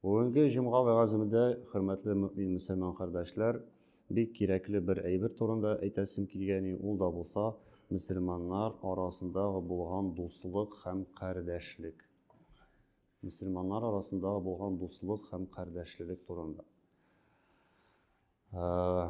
Бүгенге җомга вәгаземдә, хөрмәтле мөмин мөселман кардәшләр, бик кирәкле бер әйбер турында әйтәсем килгәни, ул да булса, мөселманнар арасында булган дуслык һәм кардәшлек. Мөселманнар арасында булган дуслык һәм кардәшлелек турында. Э,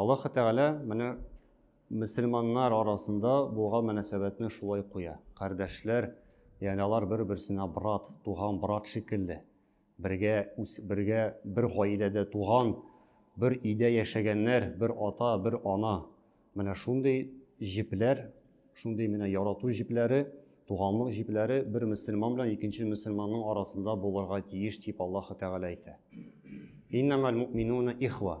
Аллаһы Тәгалә менә мөселманнар арасында булган мөнәсәбәтне шулай куя. Кардәшләр, ягъни алар бер-берсенә брат, туган брат шикелле. Бергә үс, бергә бер гаиләдә туган, бер өйдә яшәгәннәр, бер ата, бер ана. Менә шундый җепләр, шундый менә ярату җепләре, туганлык җепләре бер мөселман белән икенче мөселманның арасында булырга тиеш, дип Аллаһы Тәгалә әйтә. Иннамәл муъминуна ихва.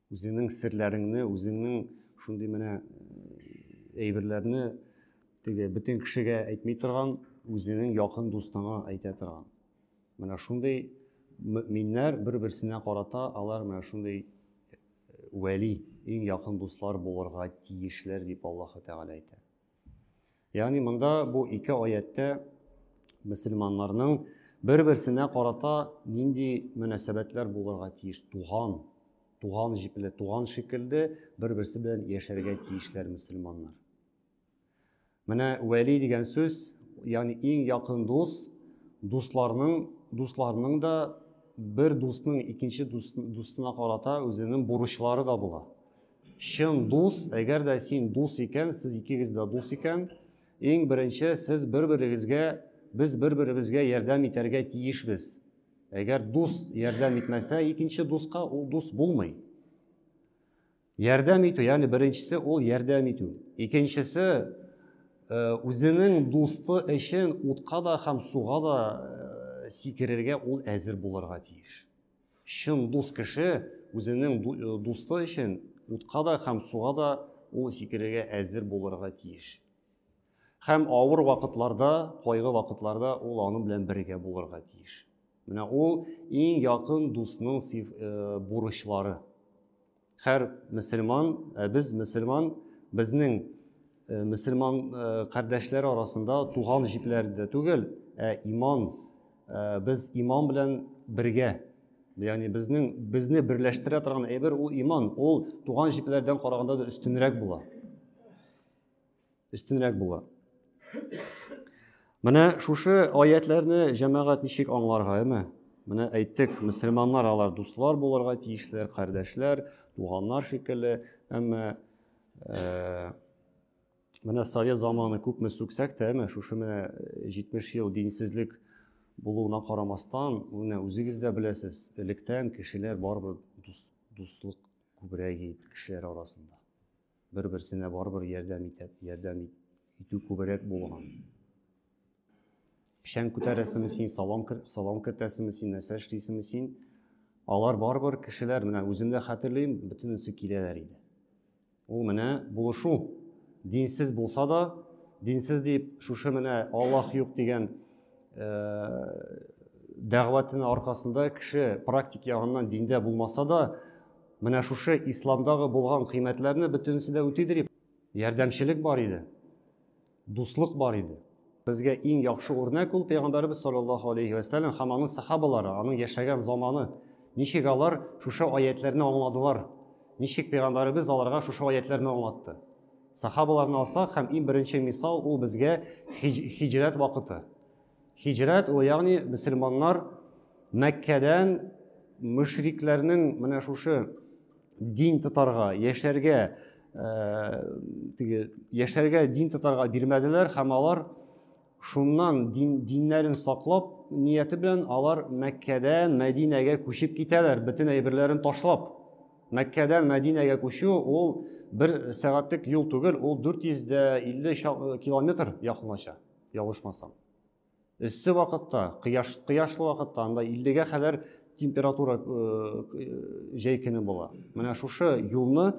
Үзеңнең серләреңне, үзеңнең шундый менә э, әйберләрне теге бөтен кешегә әйтми торган, үзеңнең якын дустыңа әйтә торган. Менә шундый мөминнәр бер-берсенә карата алар менә шундый э, вәли, иң якын дуслар булырга тиешләр дип Аллаһы Тәгалә әйтә. Ягъни монда бу ике аяттә мөселманнарның бер-берсенә карата нинди мөнәсәбәтләр булырга тиеш? Туган, туган җипле, туган шикелле бер-берсе белән яшәргә тиешләр мөселманнар. Менә вәли дигән сүз, ягъни иң якын дус, дусларның, дусларның да бер дусның икенче дусына карата үзенең бурычлары да була. Чын дус, әгәр дә син дус икән, сез икегез дә дус икән, иң беренче сез бер-берегезгә, без бер-беребезгә ярдәм итәргә тиешбез. Әгәр дус ярдәм итмәсә икенче дуска, ул дус булмый. Ярдәм итү, ягъни беренчесе ул ярдәм итү. Икенчесе э, үзенең дусты өчен утка да һәм суга да э, сикерергә ул әзер булырга тиеш. Чын дус кеше үзенең дусты өчен утка да һәм суга да ул сикерергә әзер булырга тиеш. Һәм авыр вакытларда, кайгы вакытларда ул аның белән бергә булырга тиеш. Менә ул иң якын дусның э, бурычлары. Хәр мөселман, ә без мөселман, безнең э, мөселман э, кардәшләр арасында туган җипләр дә түгел, ә иман, э, без иман белән бергә. Ягъни безнең безне берләштерә торган әйбер ул иман, ул туган җипләрдән караганда да өстенрәк була. өстенрәк була. Менә шушы аятләрне җәмәгать ничек аңларга, әме? Менә әйттек, мөселманнар алар дуслар булырга тиешләр, кардәшләр, туганнар шикелле, әмма э, менә совет заманы күпме сүксәк тә, әмма шушы менә 70 э, ел динсезлек булуына карамастан, менә үзегез дә беләсез, электән кешеләр барыбер дуслык күбрәк иде кешеләр арасында. бер-берсенә барыбер ярдәм итә, ярдәм итү күбрәк булган. Печән күтәрәсеме син, салам, салам кертәсеме син, нәрсә эшлисеме син? Алар барыбер кешеләр, менә үзем дә хәтерлим, бөтенесе киләләр иде. Ул менә булышу. Динсез булса да, динсез дип шушы менә Аллаһ юк дигән дәгъватының аркасында кеше практик ягыннан диндә булмаса да, Менә шушы исламдагы булган кыйммәтләрне бөтенесе дә үтидер иде. Ярдәмчелек бар иде. Дуслык бар иде. Безгә иң яхшы үрнәк ул пәйгамбәребез саллаллаһу алейхи ва саллям һәм аның сахабалары, аның яшәгән заманы. Ничек алар шушы аятләрне аңладылар? Ничек пәйгамбәребез аларга шушы аятләрне аңлатты? Сахабаларны алсак һәм иң беренче мисал ул безгә хиҗ, хиҗрәт вакыты. Һиҗрәт, ул ягъни мөселманнар Мәккәдән мөшрикләрнең менә шушы дин тотарга, яшәргә, теге яшәргә дин тотарга бирмәделәр һәм алар шуннан дин, диннәрен саклап нияте белән алар Мәккәдән Мәдинәгә күчеп китәләр, бөтен әйберләрен ташлап. Мәккәдән Мәдинәгә күчү ул бер сәгатьлек юл түгел, ул 450 километр якынлаша. Ялгышмасам. Эссе вакытта, кыяш, кыяшлы вакытта анда 50-гә кадәр температура җәй көне була. Менә шушы юлны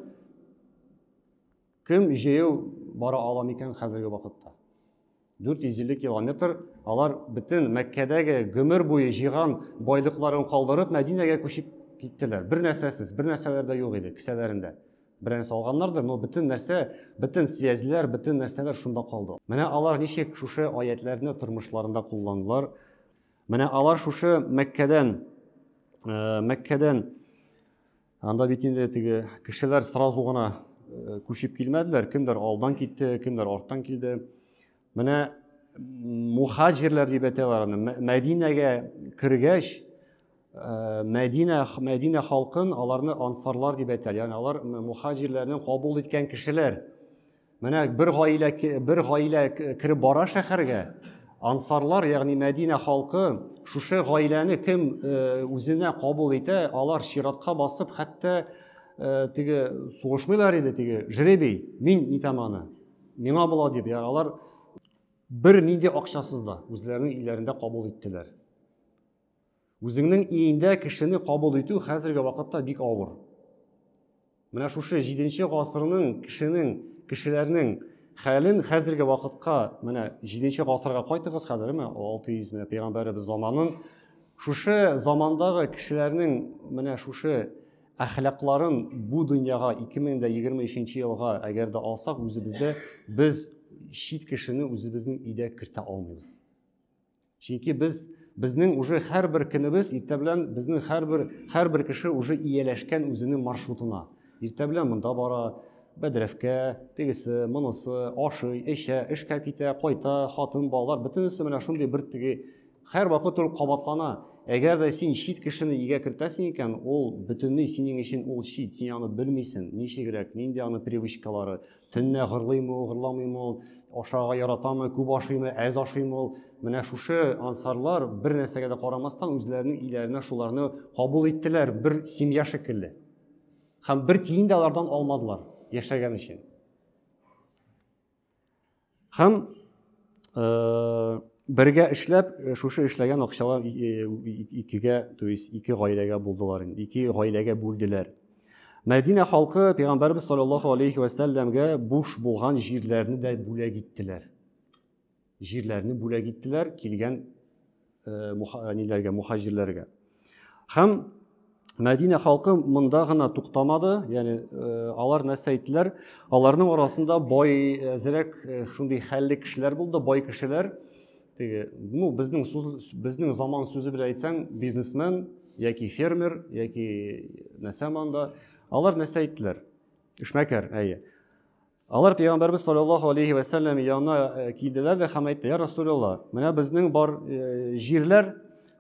кем җәяү бара ала микән хәзерге вакытта? 450 километр алар бөтен Мәккәдәге гомер буе җыйган байлыкларын калдырып Мәдинәгә күчеп киттеләр. Бер нәрсәсез, бер нәрсәләр дә юк иде кесәләрендә. белән салганнардыр, но бөтен нәрсә, бөтен связьләр, бөтен нәрсәләр шунда калды. Менә алар ничек шушы аятләрне тормышларында кулландылар. Менә алар шушы Мәккәдән, э, Мәккәдән, анда бит инде теге кешеләр сразу гына э, күчеп килмәделәр, кемдер алдан китте, кемдер арттан килде. Менә мухаҗирләр дип әйтәләр аны. Мәдинәгә кергәч, э, Мәдинә Мәдинә халкын аларны ансарлар дип әйтәләр. Ягъни алар мухаҗирләрне кабул иткән кешеләр. Менә бер гаилә бер гаилә кереп бара шәһәргә. Ансарлар, ягъни Мәдинә халкы, шушы гаиләне кем э, үзенә кабул итә, алар чиратка басып, хәтта э, теге сугышмыйлар иде, теге жребий, мин итәм аны. Миңа була дип, я, алар бер нинди акчасыз да үзләренең илләрендә кабул иттеләр. Үзеңнең иендә кешене кабул итү хәзерге вакытта бик авыр. Менә шушы 7 гасырның кешенең, кешеләрнең хәлен хәзерге вакытка, менә 7 гасырга кайтыгыз хәзер, менә 600 менә пәйгамбәребез заманын шушы замандагы кешеләрнең менә шушы Әхлакларын бу дөньяга 2023 елга әгәр дә алсак, үзебездә без чит кешене үзебезнең өйдә кертә алмыйбыз. Чөнки без безнең уже һәрбер көнебез иртә белән безнең һәрбер һәрбер кеше уже ияләшкән үзенең маршрутына. Иртә белән монда бара, бәдрәфкә, тегесе, монысы, ашый, эчә, эшкә китә, кайта, хатын, балалар, бөтенесе менә шундый бер теге Хәр вакыт ул кабатлана. Әгәр дә син чит кешене игә кертәсең икән, ул бөтенләй синең өчен ул чит, син аны белмисең, ничегрәк, нинди аны привычкалары, төнлә гырлыймы ул, гырламыймы ул, ашарга яратамы, күп ашыймы, әз ашыймы ул. Менә шушы ансарлар бер нәрсәгә дә карамастан үзләренең иләренә шуларны кабул иттеләр, бер семья шикелле. Һәм бер тиен дә алардан алмадылар яшәгән өчен. Һәм э, бергә эшләп, э, шушы эшләгән акчалар э, икегә, то есть ике гаиләгә булдылар инде, ике гаиләгә бүлделәр. Мәдинә халкы Пәйгамбәрбез саллаллаху алейхи ва сәлләмгә буш булган җирләрне дә бүләк иттеләр. Җирләрне бүләк иттеләр килгән ниләргә, мухаҗирләргә. Һәм Мәдинә халкы монда гына туктамады, ягъни алар нәрсә әйттеләр? Аларның арасында бай әзрәк шундый хәлле кешеләр булды, бай кешеләр. Теге, ну, безнең сүз, безнең заман сүзе белән әйтсәң, бизнесмен яки фермер, яки нәрсә монда. Алар нәрсә әйттеләр? Эшмәкәр, әйе. Алар пәйгамбәрбез саллаллаһу алейхи ва сәлләм янына э, килделәр дә һәм әйтте: "Я Расулулла, менә безнең бар э, җирләр,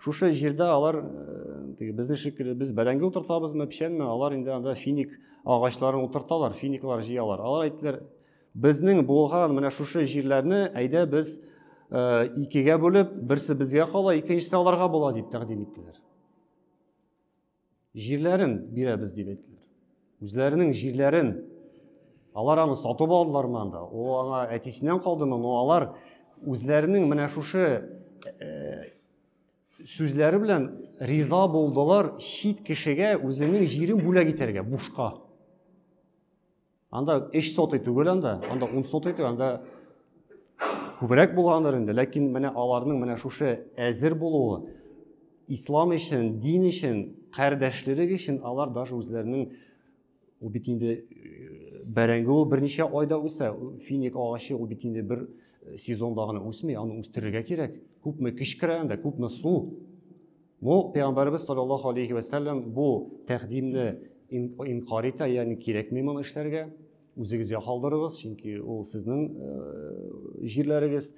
шушы җирдә алар э, теге безнең шикелле без бәрәңге утыртабызмы, печәнме? Алар инде анда финик агачларын утырталар, финиклар җыялар." Алар әйттеләр: "Безнең булган менә шушы җирләрне әйдә без икегә бүлеп, берсе безгә кала, икенчесе аларга була", дип тәкъдим иттеләр. Җирләрен бирәбез дип әйттеләр. Үзләренең җирләрен алар аны сатып алдылармы анда? Ул аңа әтисеннән калдымы? Но алар үзләренең менә шушы э, сүзләре белән риза булдылар чит кешегә үзенең җирен бүләк итәргә бушка. Анда 3 сотый түгел анда, анда 10 сотый түгел, анда күбрәк булгандыр инде, ләкин менә аларның менә шушы әзер булуы ислам өчен, дин өчен, кардәшлек өчен алар даже үзләренең ул бит инде э, бәрәңге ул берничә айда үсә, финик агачы ул бит инде бер э, сезонда гына үсми, аны үстерергә кирәк. Күпме көч керә анда, күпме су. Бу пәйгамбәребез саллаллаһу алейхи вә сәлләм бу тәкъдимне инкар итә, ягъни кирәкми моны эшләргә. Үзегезгә калдырыгыз, чөнки ул сезнең э, җирләрегез.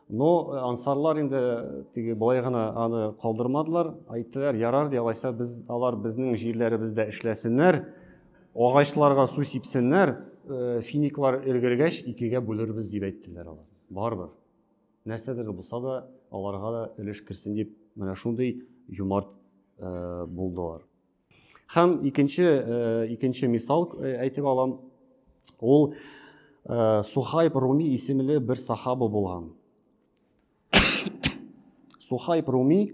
Но э, ансарлар инде э, теге болай гына аны калдырмадылар, әйттеләр, ярар ди, алайса без алар безнең җирләребездә эшләсеннәр, агачларга су сипсеннәр, финиклар өлгергәч икегә бүлербез дип әйттеләр алар. Барыбер. Нәрсәдер булса да, аларга да өлеш керсен дип, менә шундый юмарт э, булдылар. Хәм икенче э, икенче мисал э, әйтеп алам. Ул э, Сухайб Руми исемле бер сахаба булган. Сухайб Руми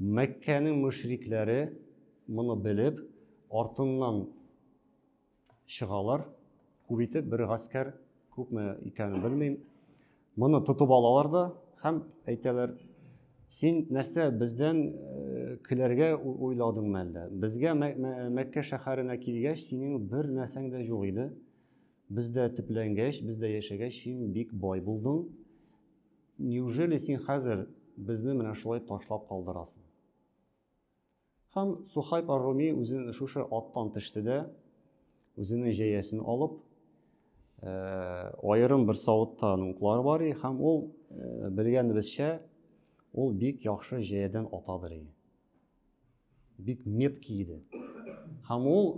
Мәккәнең мөшрикләре моны белеп, артыннан чыгалар, күп итеп, бер гаскәр, күпме икәнен белмим. Моны тотып алалар да һәм әйтәләр, син нәрсә бездән э, көләргә уйладың мәлдә? Безгә Мәккә шәһәренә килгәч, синең бер нәрсәң дә юк иде. Бездә төпләнгәч, бездә яшәгәч, син бик бай булдың. Неужели син хәзер безне менә шулай ташлап калдырасың? Һәм Сухайб ар-Руми үзен шушы аттан төште дә, үзенең җәясен алып, э, аерым бер савытта аның уклары бар иде һәм ул э, белгәнебезчә, ул бик яхшы җәядән атадыр иде. бик меткий иде. Һәм ул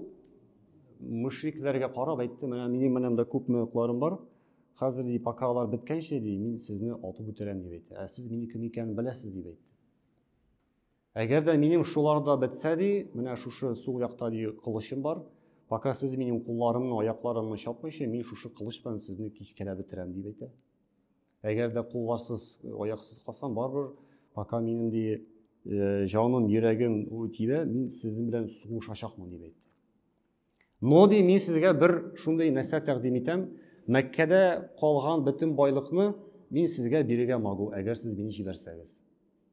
мөшрикләргә карап әйтте, менә минем менәм дә күп мөкәлләрем бар. Хәзер ди, пока алар беткәнче ди, мин сезне атып үтерәм дип әйтте. Ә сез мине кем икәнен беләсез дип әйтте. Әгәр дә минем шуларда бетсә ди, менә шушы сул якта ди кылычым бар. Пока сез минем кулларымны, аякларымны чапмыйча, мин шушы кылыч белән сезне кискәләп бетерәм дип әйтә. Әгәр дә кулларсыз, аяксыз калсам, барыбер пока минем ди э, җаным, йөрәгем тибә, мин сезнең белән сугышачакмын дип әйтте. Но ди мин сезгә бер шундый нәрсә тәкъдим итәм. Мәккәдә калган бөтен байлыкны мин сезгә бирергә могу, әгәр сез мине җибәрсәгез.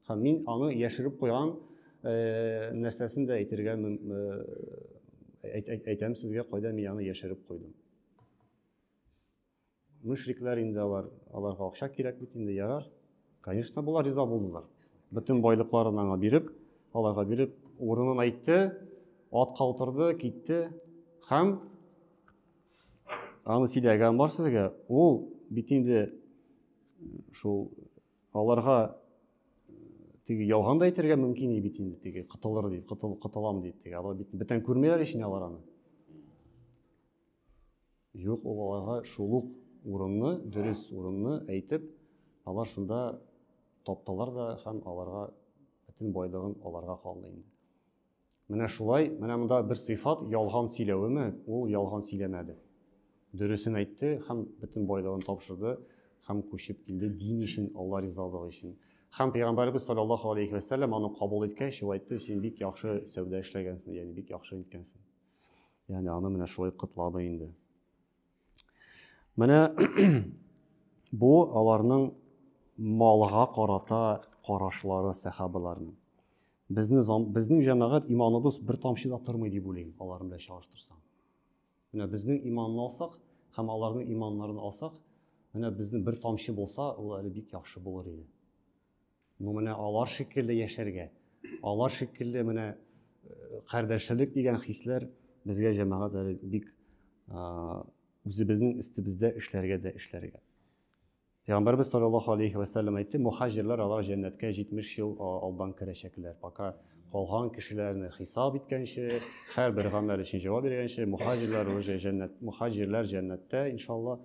Һәм мин аны яшереп куйган э, нәрсәсен дә әйтергә э, әйтәм сезгә, кайда мин аны яшереп куйдым. Мөшрикләр инде алар, аларга акча кирәк бит инде, ярар. Конечно, болар риза булдылар. Бөтен байлыкларын аңа биреп, аларга биреп, урынын әйтте, атка утырды, китте. Һәм аны сөйләгән бар сезгә, ул бит инде шул аларга теге ялган да әйтергә мөмкин иде бит инде теге кытылыр дип, кытыл, кытылам дип теге. Алар бит бүтән күрмиләр ич инде алар аны. Юк, ул аларга шул ук урынны, дөрес урынны әйтеп, алар шунда таптылар да һәм аларга бөтен байлыгын аларга калды инде. Менә шулай, менә монда бер сыйфат ялган сөйләвеме? Ул ялган сөйләмәде. Дөресен әйтте һәм бөтен байлыгын тапшырды һәм күчеп килде дин өчен, Алла ризалыгы өчен. Һәм пәйгамбәрбез саллаллаһу алейхи ва саллям аны кабул иткәч, ул әйтте, син бик яхшы сәүдә эшләгәнсең, ягъни бик яхшы иткәнсең. Яни аны менә шулай котлады инде. Менә бу аларның малга карата карашлары сәхабаларның. Безне безнең җәмәгать иманыбыз бер тамчы да тормый дип уйлыйм, алар белән чагыштырсаң. Менә безнең иманны алсак һәм аларның иманнарын алсак, менә безнең бер тамчы булса, ул әле бик яхшы булыр иде. Ну менә алар шикелле яшәргә, алар шикелле менә э, кардәшлек дигән хисләр безгә җәмәгать әле бик үзебезнең өстебездә эшләргә дә эшләргә. Пәйгамбәрбез саллаллаху алейхи ва саллям әйтте, мухаҗирлар алар җәннәткә 70 ел алдан керәчәкләр. Пока калган кешеләрне хисап иткәнче, һәрбер гамәл өчен җавап биргәнче, мухаҗирлар уже җәннәт, мухаҗирлар җәннәттә, иншалла,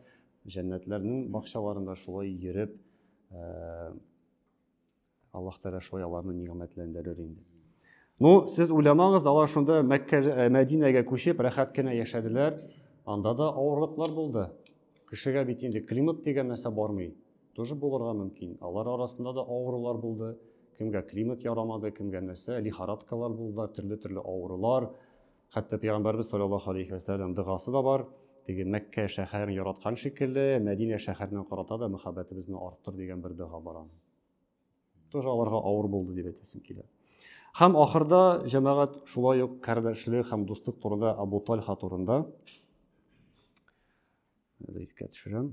җәннәтләрнең бакчаларында шулай йөреп Аллаһ Тәгалә шулай аларны нигъмәтләндерер инде. Ну, сез уйламагыз, алар шунда Мәккә, э, Мәдинәгә күчеп, рәхәт кенә яшәделәр. Анда да авырлыклар булды. Кешегә бит инде климат дигән нәрсә бармый. Тоже булырга мөмкин. Алар арасында да авырулар булды. Кемгә климат ярамады, кемгә нәрсә, лихорадкалар булды, төрле-төрле авырулар. Хәтта пәйгамбәрбез салләллаһу алейһи вә сәлләм догасы да бар. Теге Мәккә шәһәрен яраткан шикелле, Мәдинә шәһәренә карата да мәхәббәтебезне арттыр дигән бер дога бар аның. Тоже аларга авыр булды дип әйтәсем килә. Һәм ахырда җәмәгать шулай ук кардәшлек һәм дуслык турында Абу Тальха турында искә төшерәм.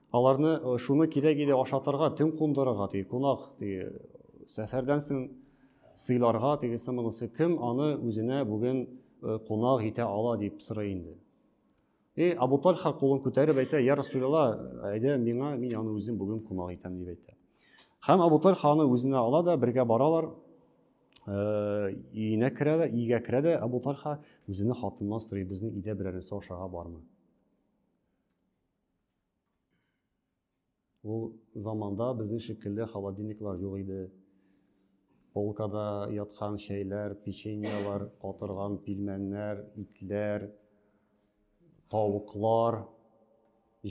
Аларны э, шуны кирәк иде ашатырга, төн кундырырга, теге кунак, теге сәфәрдән соң сыйларга, тегесе монысы кем аны үзенә бүген э, кунак итә ала дип сорый инде. И э, Абу Тальха кулын күтәреп әйтә, я Расулилла, әйдә миңа, мин аны үзем бүген кунак итәм дип әйтә. Һәм Абу Тальха аны үзенә ала да бергә баралар, өенә керә дә, өйгә керә дә Абу Тальха үзенә хатыннан сорый, безнең өйдә берәрсе ашага бармы? Ул заманда безнең шикелле холодильниклар юк иде. Полкада яткан чәйләр, печеньялар, катырган пилмәннәр, итләр, тавыклар,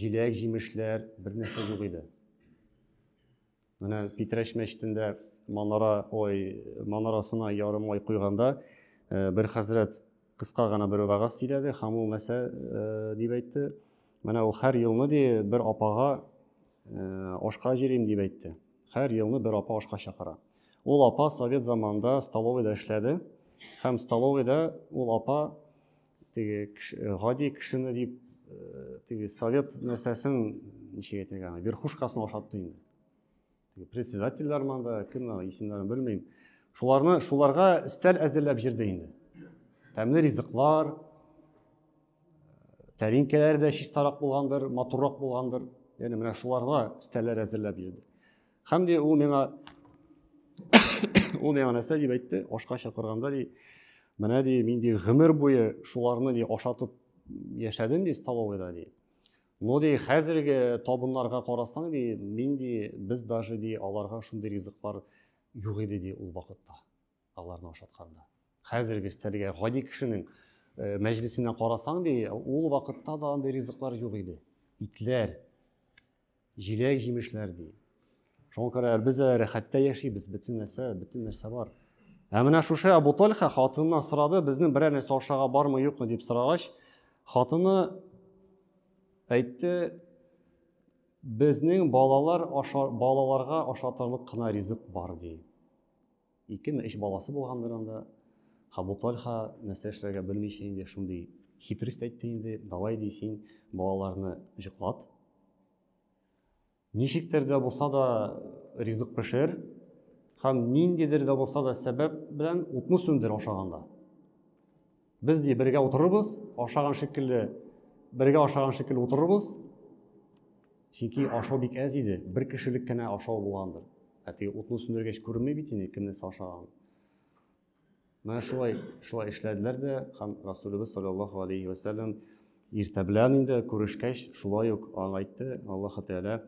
җиләк-җимешләр бернәрсә юк иде. Менә Питрәч мәчетендә манара ой манарасына ярым ай куйганда э, бер хәзрәт кыска гына бер вәгазь сөйләде һәм ул мәсә э, дип әйтте. Менә ул һәр елны ди бер апага э, ашка җирим дип әйтте. Һәр елны бер апа ашка чакыра. Ул апа совет заманында столовыйда эшләде һәм столовыйда ул апа теге гади кешене дип э, теге совет нәрсәсен ничек әйтергә аны верхушкасын ашатты инде теге председательләр монда кем ана исемнәрен белмим шуларны шуларга өстәл әзерләп җирде инде тәмле ризыклар тәринкәләре дә чистарак булгандыр матуррак булгандыр яғни менә шуларга өстәлләр әзерләп йөрде һәм де ул миңа ул миңа нәрсә дип әйтте ашка чакырганда ди менә ди мин ди гомер буе шуларны ди ашатып яшәдем ди столовыйда ди но ди хәзерге табыннарга карасаң ди мин ди без даже ди аларга шундый ризыклар юк иде ди ул вакытта Аларны ашатканда. Хәзерге стәлгә гади кешенең э, мәҗлисенә карасаң ди, ул вакытта да андый ризыклар юк иде. Итләр, җиләк җимешләр ди. Шуңа күрә без рәхәттә яшибез, бөтен нәрсә, бөтен нәрсә бар. Ә менә шушы Абу Тальха хатыныннан сорады, безнең берәр нәрсә ашарга бармы, юкмы дип сорагач, хатыны әйтте, безнең балалар аша, балаларга ашатырлык кына ризык бар ди. Икеме, өч баласы булгандыр анда. Абу Тальха нәрсә эшләргә белмичә инде шундый хитрист әйтте инде, давай ди син балаларны җоклат. Ничектер дә булса да ризык пешер һәм ниндидер дә булса да сәбәп белән утны сүндер ашаганда. Без ди бергә утырырбыз, ашаган шикелле, бергә ашаган шикелле утырырбыз. Чөнки ашау бик әз иде, бер кешелек кенә ашау булгандыр. Ә теге утны сүндергәч күренми бит инде кем нәрсә ашаган. Менә шулай, шулай эшләделәр дә, һәм Расулыбыз саллаллаһу алейхи ва саллям иртә белән инде күрешкәч, шулай ук аңа әйтте, Аллаһу тәгалә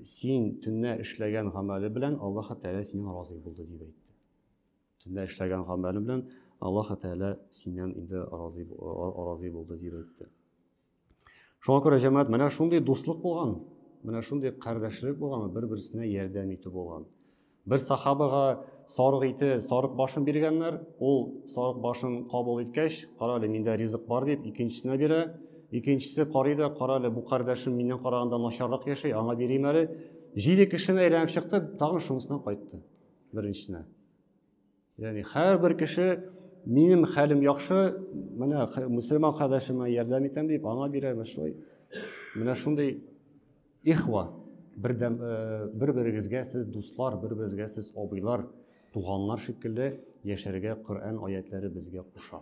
син төннә эшләгән гамәле белән Аллаһу тәгалә синнән разый булды дип әйтте. Төнлә эшләгән гамәле белән Аллаһ Тәгалә синнән инде разый разый булды дип әйтте. Шуңа күрә җәмәгать менә шундый дуслык булган, менә шундый кардәшлек булган, бер-берсенә ярдәм итү булган. Бер сахабага сарык ите, сарык башын биргәннәр. Ул сарык башын кабул иткәч, кара әле, миндә ризык бар дип, икенчесенә бирә. Икенчесе карый да, кара әле, бу кардәшем миннән караганда начаррак яши, аңа бирим әле. Җиде кешене әйләнеп чыкты, тагын шунысына кайтты. беренчесенә. Ягъни һәрбер кеше минем хәлем яхшы, менә мусульман кардәшемә ярдәм итәм дип, аңа бирәм, шулай. Менә шундый ихва, бердәм э, бер-берегезгә сез дуслар, бер-берегезгә сез абыйлар, туганнар шикелле яшәргә Коръән аятләре безгә куша.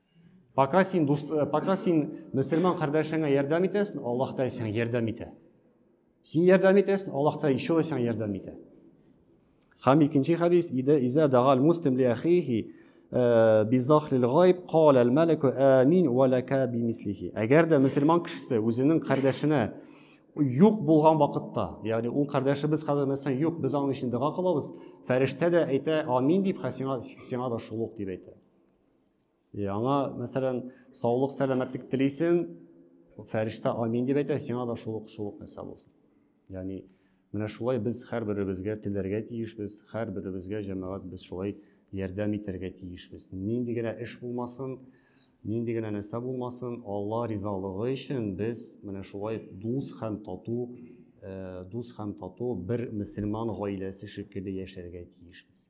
Пока син, дус, э, пока син мөселман кардәшеңә ярдәм итәсең, Аллаһ та сиңа ярдәм итә. Син ярдәм итәсең, Аллаһ та еще да сиңа ярдәм итә. Һәм икенче хадис, иде иза дагал муслим ли ахихи э, би захлил гайб кал ал малику амин ва лака би мислихи. Әгәр дә мөселман кешесе үзенең кардәшенә юк булган вакытта, ягъни ул кардәше без хәзер мәсәлән юк, без аның өчен дога кылабыз, фәрештә дә әйтә амин дип, һәм сиңа сиңа да шул ук дип әйтә. Яңа, мәсәлән, саулык, сәламәтлек телисең, фәрештә амин дип әйтә, сиңа да шул ук шул ук нәрсә булсын. Ягъни менә шулай без һәрберебезгә теләргә тиешбез, һәрберебезгә җәмәгать без шулай ярдәм итәргә тиешбез. Нинди генә эш булмасын, нинди генә нәрсә булмасын, Алла ризалыгы өчен без менә шулай дус һәм тату, э, дус һәм тату бер мөселман гаиләсе шикелле яшәргә тиешбез.